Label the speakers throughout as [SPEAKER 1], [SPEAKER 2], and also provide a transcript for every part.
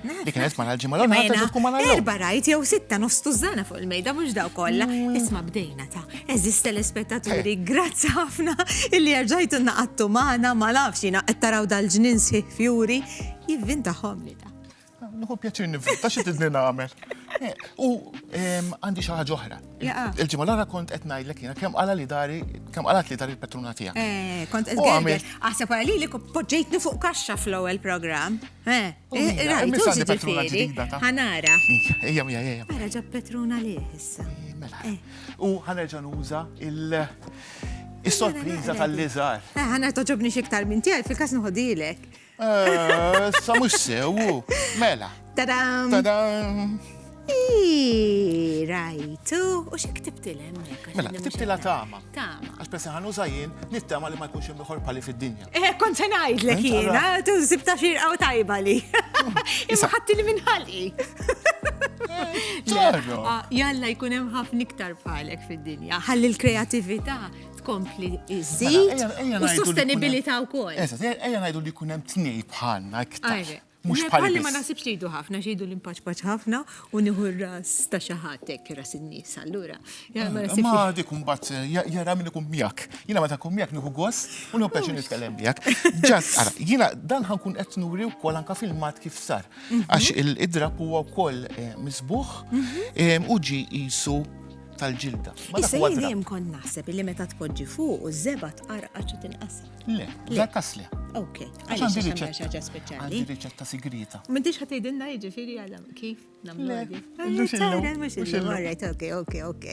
[SPEAKER 1] Dik kienet mara l-ġimgħa l-oħra ta' ġurku mara l Erba' rajt jew sitta
[SPEAKER 2] nostużana fuq il-mejda mhux daw kollha. Mm. Isma' bdejna ta' eżis telespettaturi, eh. grazzi ħafna illi erġajtu naqattu magħna ma nafx jiena qed taraw dal-ġnien sħiħ fjuri jivvin tagħhom li ta'. Nħu pjaċir
[SPEAKER 1] nivvinta xi tidni nagħmel. Eh, u għandi xi ħaġa oħra. Il-ġimgħa l-oħra kont qed ngħidlek jiena kemm qala li dari kemm qalat li dari l-patruna tiegħek. Eh, kont qed ngħidlek
[SPEAKER 2] aħseb wara li poġġejtni fuq kaxxa fl-ewwel programm. Eh, eh, rajt patruna ġdida ta' ħanara. Ejja mija
[SPEAKER 1] ejja. Ara ġab patruna
[SPEAKER 2] li issa. Mela.
[SPEAKER 1] U ħanerġa' nuża il- Is-sorpriża tal-liżar. Ħana toġobni
[SPEAKER 2] xiktar minn tiegħi fil-każ nħodilek.
[SPEAKER 1] Eh, sa mux sewu, mela. Tadam! Tadam!
[SPEAKER 2] Rajtu, u xe ktibtilem? Mela, ktibtila tama.
[SPEAKER 1] Tama. Għax pesa ħanu
[SPEAKER 2] zaħin,
[SPEAKER 1] nittama li ma jkunx hemm ieħor pali fid-dinja. Eh, kont se ngħidlek
[SPEAKER 2] jiena, tu sibta xirqa u tajba li. Imma ħatti li minħalqi. Eh, ah, jalla jkun hemm ħafna iktar bħalek fid-dinja. Ħalli l-kreativita tkompli iżid mela, u sostenibilità wkoll. Eżatt, ejja ngħidu li jkun
[SPEAKER 1] hemm tnej bħalna iktar. Mux bħalli. Ma
[SPEAKER 2] nasibx li jdu ħafna, xidu l-impaċpaċ ħafna u nieħu r-ras ta' xaħatek, ras in-nies, allura. Ma
[SPEAKER 1] dik kumbat, jara minn ikun miak. Jina ma ta' kum miak nieħu gost u nieħu peċi nitkellem miak. Ġas, ara, jina dan ħankun qed nuri wkoll anka fil-mat kif sar. Mhm. Għax il-idrab huwa wkoll eh, misbuħ mhm. eh, u ġi jisu tal-ġilda. Issa jien dejjem
[SPEAKER 2] kon naħseb li meta tpoġġi fuq u żeba tqarqa ċi tinqasam. Le, le
[SPEAKER 1] tasli. Ok, għax għandi
[SPEAKER 2] riċetta speċjali. Għandi riċetta sigrita.
[SPEAKER 1] M'intix ħadd tgħidilna
[SPEAKER 2] jiġifieri għal kif nagħmlu. Mhux illum. Alright, ok, ok, ok.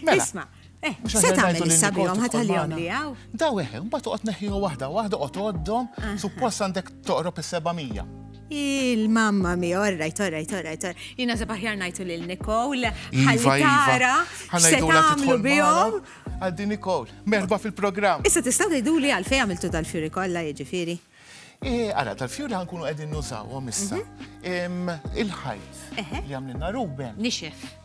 [SPEAKER 2] Mela. Isma', eh, se tagħmel issa bihom ħatħallihom li hawn. Daw eħe, mbagħad toqgħod
[SPEAKER 1] neħħiha waħda, waħda qgħod għoddhom, ah, ah. suppost għandek toqrob is-700. Il-mamma
[SPEAKER 2] mi, orrajt, orrajt, orrajt, orrajt. Jina se paħjar najtu lil Nikol, ħallitara, se tamlu bihom. Għaddi Nikol,
[SPEAKER 1] merba fil-program. Issa tistaw tgħidu li
[SPEAKER 2] għalfej għamiltu dal-fjuri kollha jiġifieri. Eh, ara,
[SPEAKER 1] tal-fjuri għankunu għedin nużawhom issa. Mhm. Il-ħajt li għamlinna Ruben. Nixef.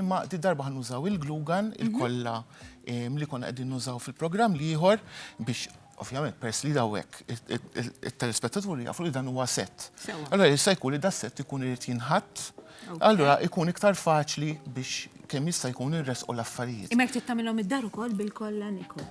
[SPEAKER 1] Imma di darba ħannużaw il-glue gun, il-kolla li konna qegħdin nużaw fil-programm l-ieħor biex ovvjament pers li dawek il-telespettatur jafu li dan huwa set. Allora jista' jkun li da set ikun irid jinħatt, allora ikun iktar faċli biex kemm jista' jkun irresqu l-affarijiet. Imma jekk trid tagħmilhom id-dar
[SPEAKER 2] ukoll bil-kolla Niko.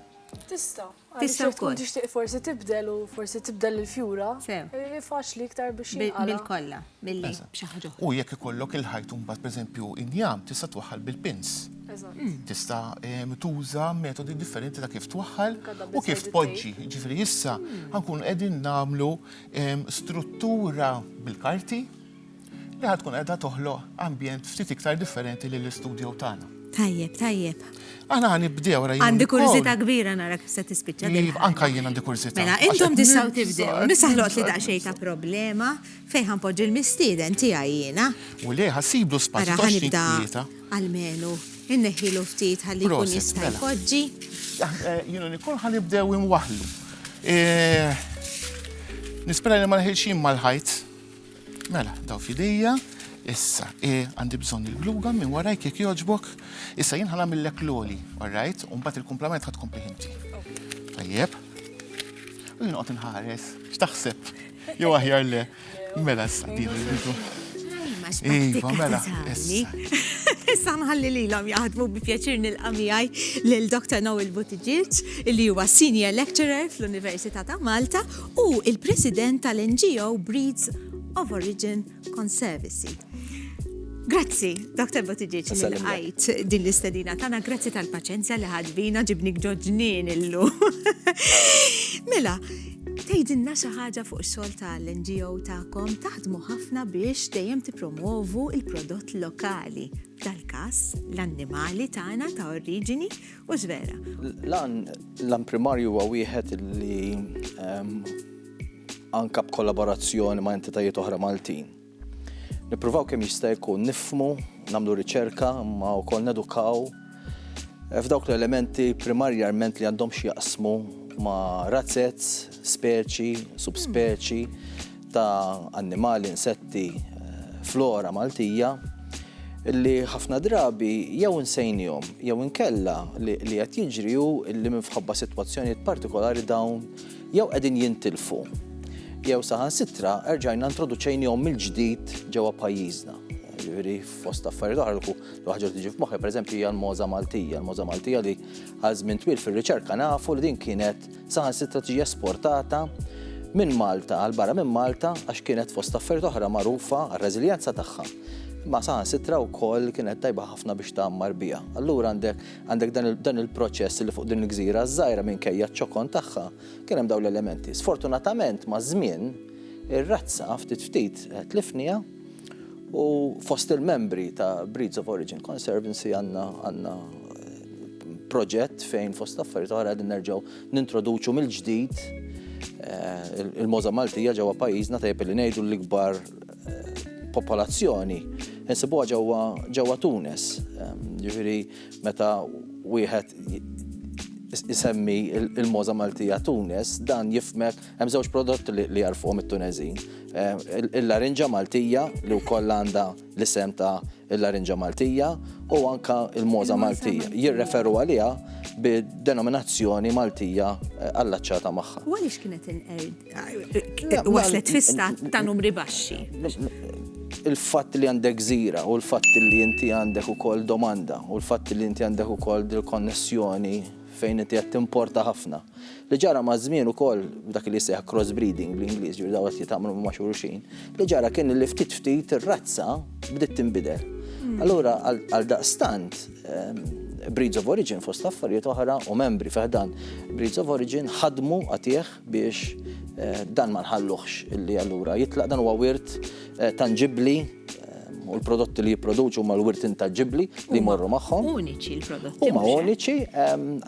[SPEAKER 2] Tista'.
[SPEAKER 3] Tista' wkoll. Tkun tixtieq
[SPEAKER 2] forsi tibdel
[SPEAKER 3] u forsi tibdel il-fjura. Sew. Faċli iktar biex jinqala'. Bil-kolla, billi
[SPEAKER 2] b'xi ħaġa oħra. U jekk ikollok il-ħajt
[SPEAKER 1] mbagħad pereżempju injam tista' twaħħal bil-pins. Eżatt. Tista' tuża metodi differenti ta' kif twaħħal u kif tpoġġi. Jiġifieri issa ħa nkunu qegħdin nagħmlu struttura bil-karti. li ħa tkun qiegħda toħloq ambjent ftit iktar differenti lill-istudjow tagħna. Tajjeb, tajjeb.
[SPEAKER 2] Aħna ħa
[SPEAKER 1] nibdew ra Għandi kurżità kbira
[SPEAKER 2] nara kif se tispiċċa din. Iva, anka jien għandi kurżità.
[SPEAKER 1] Mela, intom tistgħu
[SPEAKER 2] tibdew. Nisa ħloqt li daqsxejn ta' problema fejn ħanpoġġi l-mistieden tiegħi jiena. U le ħassiblu
[SPEAKER 1] spazju ta' xi tlieta. Almenu,
[SPEAKER 2] inneħħilu ftit ħalli jkun jista' mela. jpoġġi. Eh, jien
[SPEAKER 1] u Nikol ħa nibdew imwaħlu. Eh, nispera li ma neħilx jien mal-ħajt. Mela, daw fidejja, issa, e, għandi bżonn il-gluga minn warajk jekk joġbok, issa jien ħana millek l-oli, alright, un bat il-komplement ħad kompli ħinti. Tajjeb. U jien qot nħares, x'taħseb? Jew aħjar le, mela issa din il-bidu. Iva, mela,
[SPEAKER 2] Issa nħalli li l-om jaħdmu bi pjaċir nil-qamijaj l-Dr. Noel Buttigieg, li huwa Senior Lecturer fl-Università ta' Malta Hu l-President tal-NGO Breeds of Origin Conservancy. Grazzi, Dr. Buttigieg, li lqajt din l-istedina tagħna, grazzi tal-paċenzja li ħadbina ġibni ġoġnin illu. Mela, tgħidilna xi ħaġa fuq ix-xogħol tal-NGO tagħkom taħdmu ħafna biex dejjem tippromovu il-prodott lokali, tal-każ l-annimali tagħna ta' oriġini U żvera.
[SPEAKER 4] L-għan primarju huwa wieħed li ehm, anka b'kollaborazzjoni ma' entitajiet oħra Maltin. Nippruvaw kemm jista' jkun nifmu, nagħmlu riċerka, ma wkoll nedukaw eh, f'dawk l-elementi primarjarment li għandhom x'jaqsmu ma' razzez, speċi, subspeċi, ta' annimali, insetti, flora Maltija li ħafna drabi jew insejnihom jew inkella li qed jiġri hu li minfħabba sitwazzjonijiet partikolari dawn jew qegħdin jintilfu jew saħansitra erġajna introduċejnihom mill-ġdid ġewwa pajjiżna. Ġifieri fost affarijiet oħra li waħġa tiġi f'moħħi, pereżempju hija l-moża Maltija, l-moża Maltija li għal żmien twil fir-riċerka nafu li din kienet Saħansitra tiġi esportata minn Malta għal barra minn Malta għax kienet fost affarijiet oħra magħrufa għar-reżiljenza tagħha. Imma saħansitra wkoll kienet tajba ħafna biex tgħammar biha. Allura għandek għandek dan il-proċess li fuq din il-gżira żgħira minkejja ċ-ċokon tagħha kien hemm dawn l-elementi. Sfortunatament maż-żmien ir-razza ftit ftit tlifniha U fost il-membri ta' Breeds of Origin Conservancy għanna għanna proġett fejn fost affarijiet oħra għadin nerġaw nintroduċu mill-ġdid eh, il-moza Maltija ġewwa pajjiżna tajjeb li ngħidu l-ikbar eh, popolazzjoni insibuha ġewwa ġewwa Tunes. Eh, jiġifieri meta wieħed isemmi il-moza Maltija Tunes dan jifmek Hemm żewġ prodotti li jarfuhom it-Tuneżin. Il-larinġa Maltija li wkoll għandha l-isem ta' il-larinġa Maltija u anka il-moza Maltija. Jirreferu għaliha bid-denominazzjoni Maltija allaċċata magħha. U għaliex kienet inqered?
[SPEAKER 2] Waslet fi stat ta' numri baxxi.
[SPEAKER 4] Il-fatt li għandek gżira u l-fatt li inti għandek ukoll domanda u l-fatt li inti għandek ukoll dil-konnessjoni fejn inti qed timporta ħafna. Li ġara maż-żmien ukoll dak li jseħħ crossbreeding bl-Ingliż, ġifieri dawn qed jitgħamlu ma' xulxin, li ġara kien li ftit ftit ir-razza bdiet tinbidel. Hmm. Allura għal daqstant ehm, Breeds of Origin fost affarijiet oħra u membri feħdan Breeds of Origin ħadmu għatih biex dan ma nħalluhx illi allura jitlaq, dan huwa wirt tanġibbli u l-prodotti li jipproduċu huma l-wirt intanġibbli li jmorru magħhom. Uniċi l-prodotti. Huma
[SPEAKER 2] uniċi,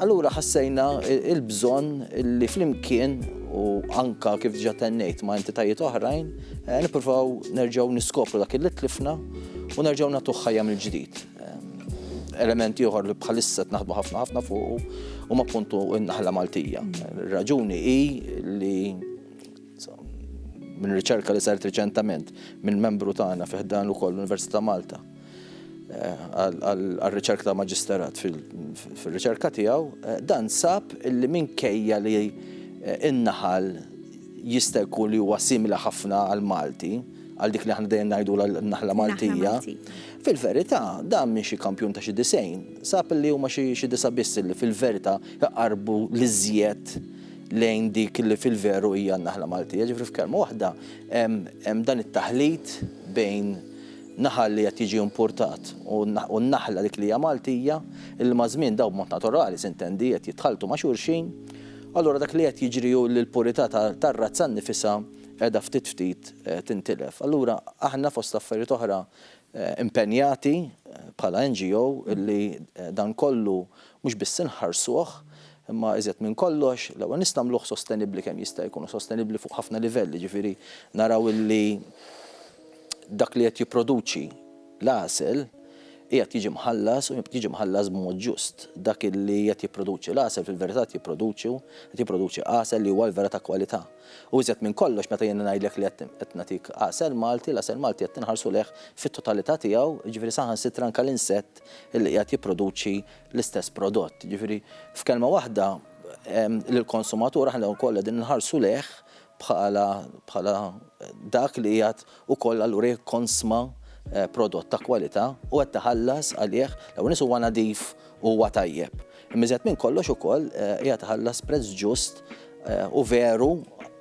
[SPEAKER 4] allura ħassejna il-bżonn li flimkien u anka kif ġa tennejt ma' entitajiet oħrajn, nippruvaw nerġgħu niskopru dak li tlifna u nerġgħu nagħtuh ħajja mill-ġdid. Element ieħor li bħalissa qed naħdmu ħafna ħafna fuqu huma appuntu n-naħla Maltija. Ir-raġuni hi li minn riċerka li saret riċentament minn membru tagħna fi ħdan ukoll l-Università Malta eh, għal-riċerka ta' maġisterat fil-riċerka tiegħu, eh, dan sab li minkejja li eh, in-naħal jista' jkun li huwa simili ħafna għal Malti, għal dik li aħna dejjem ngħidu l-naħla Maltija. Fil-verità, dan minn xi kampjun ta' xi disejn, sab li huma xi disa' biss li fil-verità jaqarbu li żjed lejn dik li fil-veru hija n-naħla Maltija. Ġifri f'kelma waħda, hemm dan it-taħlit bejn naħal li qed jiġi importat u n-naħla dik li hija Maltija, li ma' żmien daw b'mod naturali sintendi qed jitħaltu ma' xulxin. Allura dak li qed jiġri hu li l-purità tar-razza nnifisha qiegħda ftit ftit tintilef. Allura aħna fost affarijiet oħra impenjati bħala NGO li dan kollu mhux biss inħarsuh imma iżjed minn kollox l-ewwel nist nagħmluh sostenibbli kemm jista' jkun u sostenibbli fuq ħafna livelli, jiġifieri naraw li dak li qed jipproduċi l-għasel qiegħed jiġi mħallas u jiġi mħallas b'mod ġust. Dak li qed jipproduċi l-għasel fil-verità qed jipproduċu qed jipproduċi għasel li huwa l-vera ta' kwalità. U iżjed minn kollox, meta jiena ngħidlek li qed qed nagħtik għasel Malti, l-għasel Malti qed inħarsu lejh fit-totalità tiegħu, jiġifieri saħansitra anke l-insett li qiegħed jipproduċi l-istess prodott. Jiġifieri, f'kelma waħda, lill-konsumatur aħna wkoll qegħdin inħarsu lejh bħala bħala dak li qiegħed ukoll allura jekk tkonsma prodott ta' kwalità u qed tħallas għalih, l-ewwel nett huwa nadif u huwa tajjeb. Imma iżjed minn kollox ukoll qiegħed iħallas prezz ġust u veru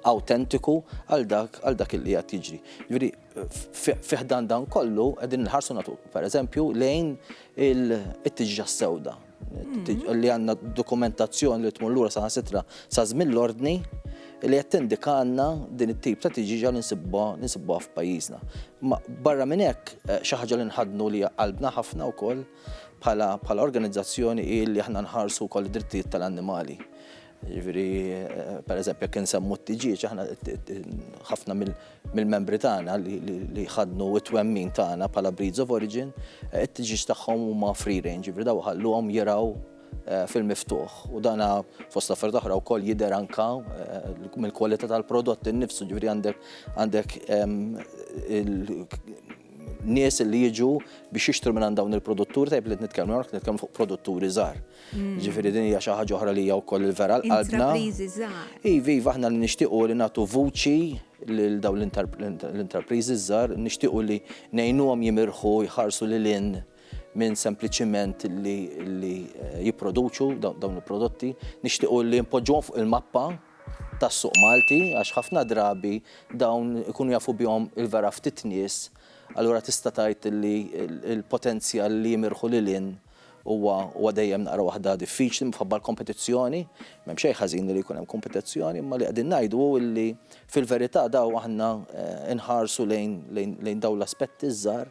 [SPEAKER 4] awtentiku għal dak għal dak illi qiegħed jiġri. Jiġifieri fi ħdan dan kollu qegħdin inħarsu natu pereżempju lejn it-tiġġa s-sewda. Mm-hmm. li għanna dokumentazzjoni li tmur lura saħansitra sa żmien l-ordni li qed tindika għandna din it-tip ta' tiġiġa li nsibbuha f'pajjiżna. Ma barra minn hekk eh, xi ħaġa li nħadnu li qalbna ħafna wkoll bħala organizzazzjoni li aħna nħarsu wkoll id-drittijiet tal-annimali. Jiġifieri, pereżempju, jekk insemmu t-tiġieġ, aħna ħafna mill-membri tagħna li ħadnu t-twemmin tagħna bħala breeds of origin, it-tiġieġ tagħhom huma free range, jiġifieri daw iħalluhom jirgħu eh, fil-miftuħ. U dana fost affarijiet oħra wkoll jidher anka eh, mill-kwalità tal-prodott innifsu, ġifieri għandek għandek nies li jiġu biex jixtru minn dawn il-produtturi tajb li nitkellmu, nitkellmu fuq produtturi żgħar. Ġifiri din hija xi ħaġa oħra li hija wkoll il-vera l-qalbna. Iva, iva, aħna li nixtiequ li nagħtu vuċi lil dawn l-interpriżi żgħar, nixtiequ li ngħinuhom jimirħu jħarsu lil in minn sempliċiment li eh, jipproduċu dawn il-prodotti, nixtiequ li npoġġuhom fuq il-mappa tas-suq Malti għax ħafna drabi dawn ikunu jafu bihom il-vera ftit nies, allura tista' tgħid li l-potenzjal li jimirħu lil in Huwa huwa dejjem naqra waħda diffiċli minħabba l-kompetizzjoni, m'hemm xejn ħażin li jkun hemm kompetizzjoni, imma li qegħdin ngħidu hu li fil-verità daw aħna nħarsu lejn lejn dawn l-aspetti ż-żgħar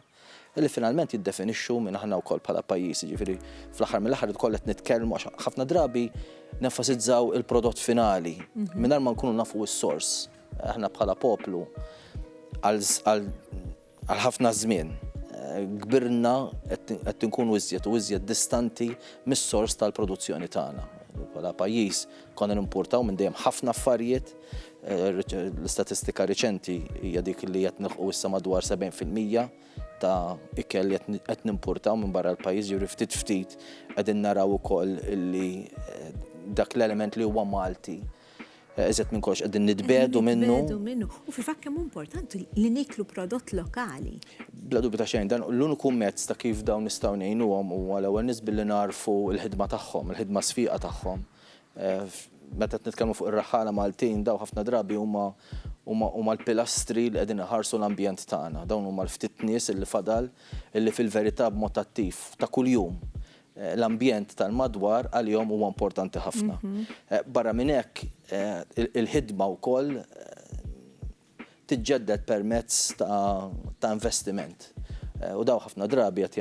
[SPEAKER 4] li finalment jiddefinixxu min aħna wkoll bħala pajjiż, jiġifieri fl-aħħar mill-aħħar irid ukoll qed nitkellmu għax ħafna drabi nenfasizzaw il-prodott finali mingħajr ma nkunu nafu s-sors. Aħna bħala poplu għal għal Għal ħafna żmien kbirna qed inkunu iżjed u iżjed distanti mis-sors tal-produzzjoni tagħna. Bħala pajjiż konna nimpurtaw minn dejjem ħafna affarijiet, l-istatistika riċenti hija dik li qed nilħqu issa madwar 70% ta' ikel li qed nimpurtaw minn barra l-pajjiż, jiġri ftit ftit qegħdin naraw ukoll li dak l-element li huwa Malti Iżjed minn kollox qegħdin nitbiegħdu minnu. Qegħdin nitbiegħdu minnu. U fil-fatt kemm hu
[SPEAKER 2] importanti li nieklu prodott lokali. Bla dubju ta' xejn,
[SPEAKER 4] dan l-uniku mezz ta' kif dawn nistgħu ngħinuhom huwa l-ewwel nies billi nagħrfu l-ħidma tagħhom, il-ħidma sfieqa tagħhom. Meta qed nitkellmu fuq ir-raħħala Maltin, dawn ħafna drabi huma huma l-pilastri li qegħdin iħarsu l-ambjent tagħna. Dawn huma l-ftit nies li fadal li fil-verità b'mod attiv, ta' kuljum, l-ambjent tal-madwar għalihom huwa importanti ħafna. Barra minn hekk, il-ħidma wkoll tiġġedded permezz ta' investiment. U dawn ħafna drabi qed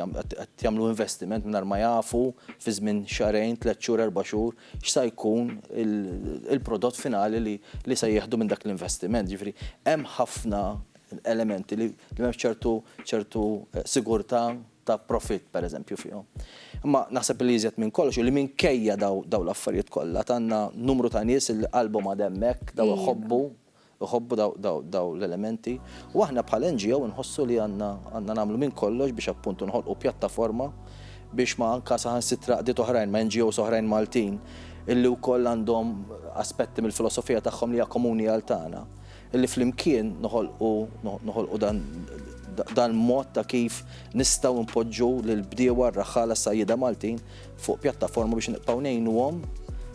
[SPEAKER 4] jagħmlu investiment mingħajr ma jafu fi żmien xahrejn, tliet xhur, erba' xhur x'sa jkun il-prodott finali li se jieħdu minn dak l-investiment. Jiġifieri hemm ħafna elementi li m'hemmx ċertu sigurtà. ta' profitt, pereżempju, fihom. Imma naħseb li iżjed minn kollox hu li minkejja dawn l-affarijiet kollha għandna numru ta' nies li qalbhom għad hemmhekk, daw iħobbu, iħobbu dawn l-elementi. U aħna bħala NGO inħossu li għandna nagħmlu minn kollox biex appuntu noħolqu pjattaforma biex ma anke saħansitra qdiet oħrajn, ma' NGOs oħrajn Maltin, illi wkoll għandhom aspetti mill-filosofija tagħhom li hija komuni għal tagħna, Li flimkien noħolqu noħolqu dan dan mod ta' kif nistgħu npoġġu lill-bdiewa, r-raħħala, s-sajjieda Maltin fuq pjattaforma biex nibqgħu ngħinuhom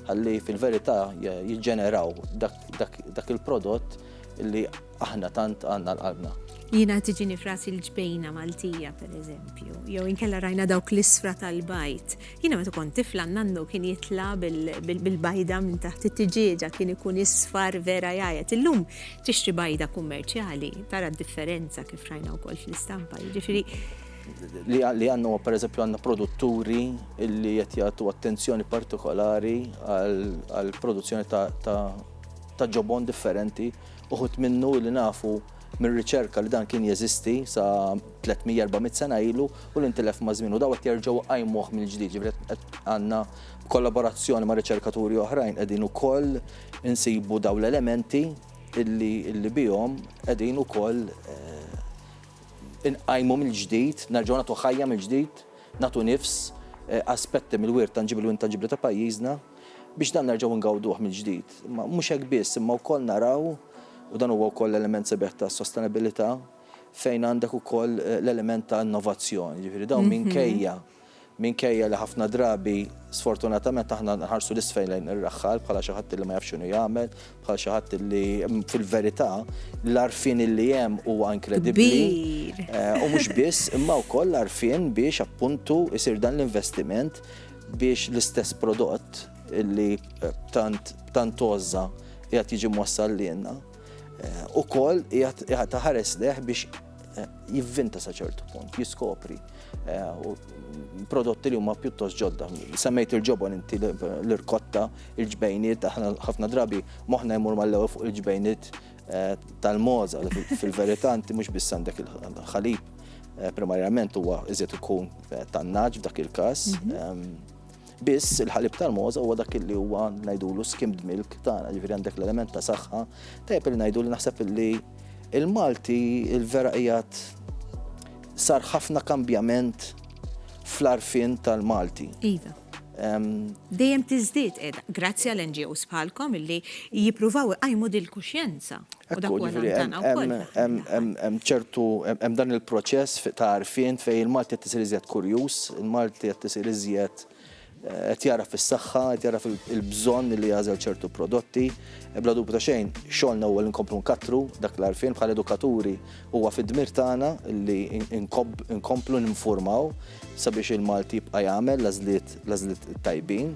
[SPEAKER 4] ħalli fil-verità jiġġeneraw dak dak dak il-prodott li aħna tant għandna għal qalbna. Jiena tiġini
[SPEAKER 2] f'rasi l-ġbejna Maltija, pereżempju, jew inkella rajna dawk l-isfra tal-bajd Jiena meta kont tifla nannu kien jitla' bil-bajda minn taħt it-tiġieġa kien ikun isfar vera jgħajjat. Illum tixtri bajda kummerċjali tara d-differenza kif rajna wkoll fl-istampa. Jiġifieri
[SPEAKER 4] li għandna huwa pereżempju għandna produtturi li qed jagħtu attenzjoni partikolari għall-produzzjoni ta' ġobon differenti uħud minnu li nafu mir-riċerka li dan kien jeżisti sa 300-400 sena ilu u li ntilef maż-żmien u daw qed jerġgħu iqajmuh mill-ġdid. Ġifieri qed għandna b'kollaborazzjoni ma' riċerkaturi oħrajn qegħdin ukoll insibu daw l-elementi illi illi bihom qegħdin ukoll inqajmu mill-ġdid, nerġgħu nagħtu ħajja mill-ġdid, nagħtu nifs aspetti mill-wirt tanġibbli u intanġibbli ta' pajjiżna. biex dan nerġgħu ngawduh mill-ġdid. Imma mhux hekk biss, imma wkoll naraw, u dan huwa wkoll element sabiħ tas-sostenabilità, fejn għandek ukoll l-element ta' innovazzjoni. Jiġifieri dawn minkejja minkejja li ħafna drabi sfortunatament aħna nħarsu 'l isfel lejn ir-raħħal bħala xi ħadd li ma jafx x'inhu jagħmel, bħal xi ħadd li fil-verità l-għarfien li hemm huwa inkredibbli. U mhux biss, imma wkoll l-għarfien biex appuntu jsir dan l-investiment biex l-istess prodott li tant tant għożża qiegħed jiġi mwassal lilna ukoll qiegħed iħares lejh biex jivvinta sa ċertu punt, jiskopri prodotti li huma pjuttost ġodda. Semmejt il-ġobon inti l-irkotta, il-ġbejniet, aħna ħafna drabi moħħna jmur mal-ewwel fuq il-ġbejniet tal-moza li fil-verità inti mhux biss għandek il-ħalib eh, primarjament huwa iżjed ikun eh, tan-naġ f'dak il-każ. Mhm. Ehm, biss il-ħalib tal-moza huwa dak li huwa ngħidulu skimmed milk tagħna, ġifieri għandek l-element ta' saħħa, tajjeb li ngħidu li naħseb li il-Malti il-vera qiegħed sar ħafna kambjament fl-arfin tal-Malti. Iva.
[SPEAKER 2] dejjem tiżdied qiegħda grazzi għal NGOs bħalkom illi jippruvaw iqajmu dil-kuxjenza. Hemm
[SPEAKER 4] ċertu hemm dan il-proċess ta' għarfien fejn il-Malti qed isir iżjed kurjuż, il-Malti qed isir iżjed qed jara fis-saħħa, qed jara fil-bżonn li jażel ċertu prodotti. Ebla dubju ta' xejn, xogħolna huwa li nkomplu nkattru dak l-għarfien bħal edukaturi Huwa fid-dmir tagħna li nkomplu ninfurmaw sabiex il-Malti jibqa' jagħmel l-għażliet tajbin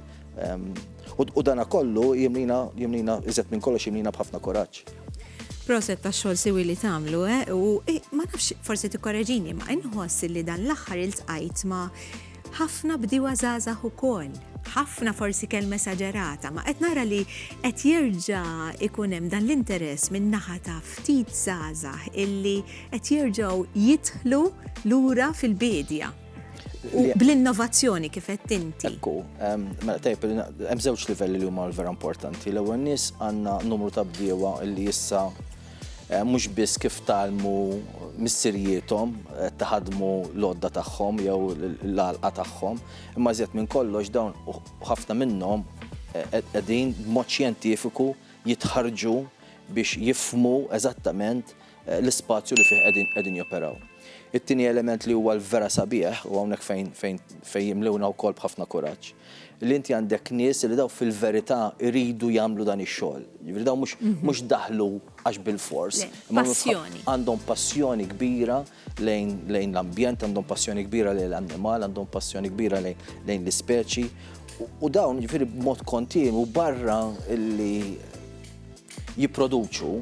[SPEAKER 4] u dan kollu jimlina iżjed minn kollox jimlina b'ħafna kuraġġ. Proset
[SPEAKER 2] tax-xogħol siwi li tagħmlu u ma nafx forsi tikkoreġini imma inħoss li dan l-aħħar iltqajt ma' Ħafna bdiewa żgħażagħ ukoll. Ħafna forsi kelma esaġerata, ma qed nara li qed jerġa' ikun hemm dan l-interess min-naħa ta' ftit żgħażagħ illi qed jerġgħu jidħlu lura fil-biedja. U bl-innovazzjoni kif qed inti. Ekku,
[SPEAKER 4] mela tajb hemm żewġ livelli li huma vera importanti. L-ewwel nies għandna numru ta' bdiewa li issa Eh, mhux biss kif talmu missirijiethom eh, taħadmu l-odda tagħhom jew l-għalqa tagħhom, imma żjed minn kollox dawn ħafna minnhom eh, qegħdin b'mod xjentifiku jitħarġu biex jifmu eżattament l-ispazju li fih qegħdin joperaw. It-tieni element li huwa l-vera sabiħ u hawnhekk fejn fejn fejn jimlewna wkoll b'ħafna kuraġġ li inti għandek nies li daw fil-verità jridu jagħmlu dan ix-xogħol. Jiġifieri daw mhux mhm. daħlu għax bil-fors. Passjoni.
[SPEAKER 2] Għandhom passjoni
[SPEAKER 4] kbira lejn l-ambjent, għandhom passjoni kbira lejn l-annimal, għandhom passjoni kbira lejn l-ispeċi. U dawn jiġifieri b'mod kontinu barra li jipproduċu,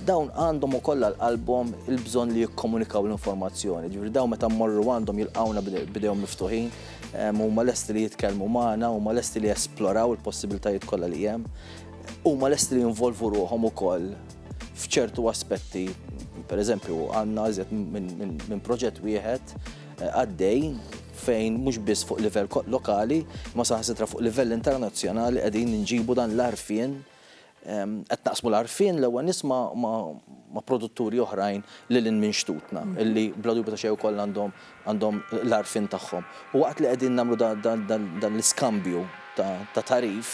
[SPEAKER 4] dawn għandhom ukoll għal qalbhom il-bżonn li jikkomunikaw l-informazzjoni. Ġifieri dawn meta mmorru għandhom jilqawna bidejhom miftuħin, ehm, huma lesti li jitkellmu magħna, huma lesti li jesploraw il-possibilitajiet kollha li hemm, huma lesti li jinvolvu ruħhom ukoll f'ċertu aspetti. Per eżempju, għandna iżjed minn proġett wieħed eh, għaddej fejn mhux biss fuq livell lokali, imma saħansitra fuq livell internazzjonali qegħdin inġibu dan l-għarfien, qed naqsmu l-għarfien l-ewwel nies ma' produtturi oħrajn lil hinn minn xtutna, li bla dubju ta' xejn ukoll għandhom l-għarfien tagħhom. U waqt li qegħdin nagħmlu dan l-iskambju ta' tagħrif,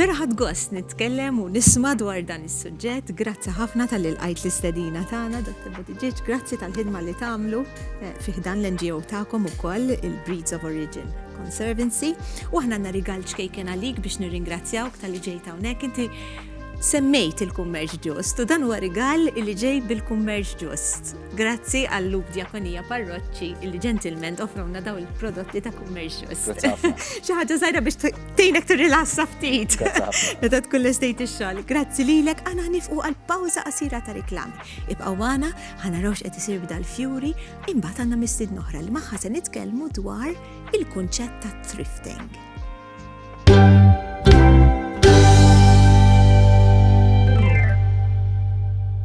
[SPEAKER 2] Vera ħadt gost nitkellem u nisma' dwar dan is-suġġett. Grazzi ħafna tal-li lqajt l-istedina tagħna, Dr. Buttigieg. Grazzi tal-ħidma li tagħmlu eh, fih dan l-NGO tagħkom ukoll il-Breeds of Origin Conservancy. U aħna għandna rigal ċkejken għalik biex nirringrazzjawk tal-li ġejt hawnhekk. Inti semmejt il-kummerġ ġust u dan huwa rigal li ġej bil-kummerġ ġust. Grazzi għal Lub Diakonija Parroċċi li ġentilment offrowna daw il-prodotti ta' kummerġ ġust. Xi ħaġa żgħira biex Tejnek tirrilassa ftit. Meta tkun l-estate ix-xogħol. Grazzi lilek għana nifqu għal pawża qasira ta' reklam. Ibqgħu għana ħana rawx qed isir b'dal fjuri imbagħad għandna mistid noħra li magħha se nitkellmu dwar il-kunċett ta' thrifting.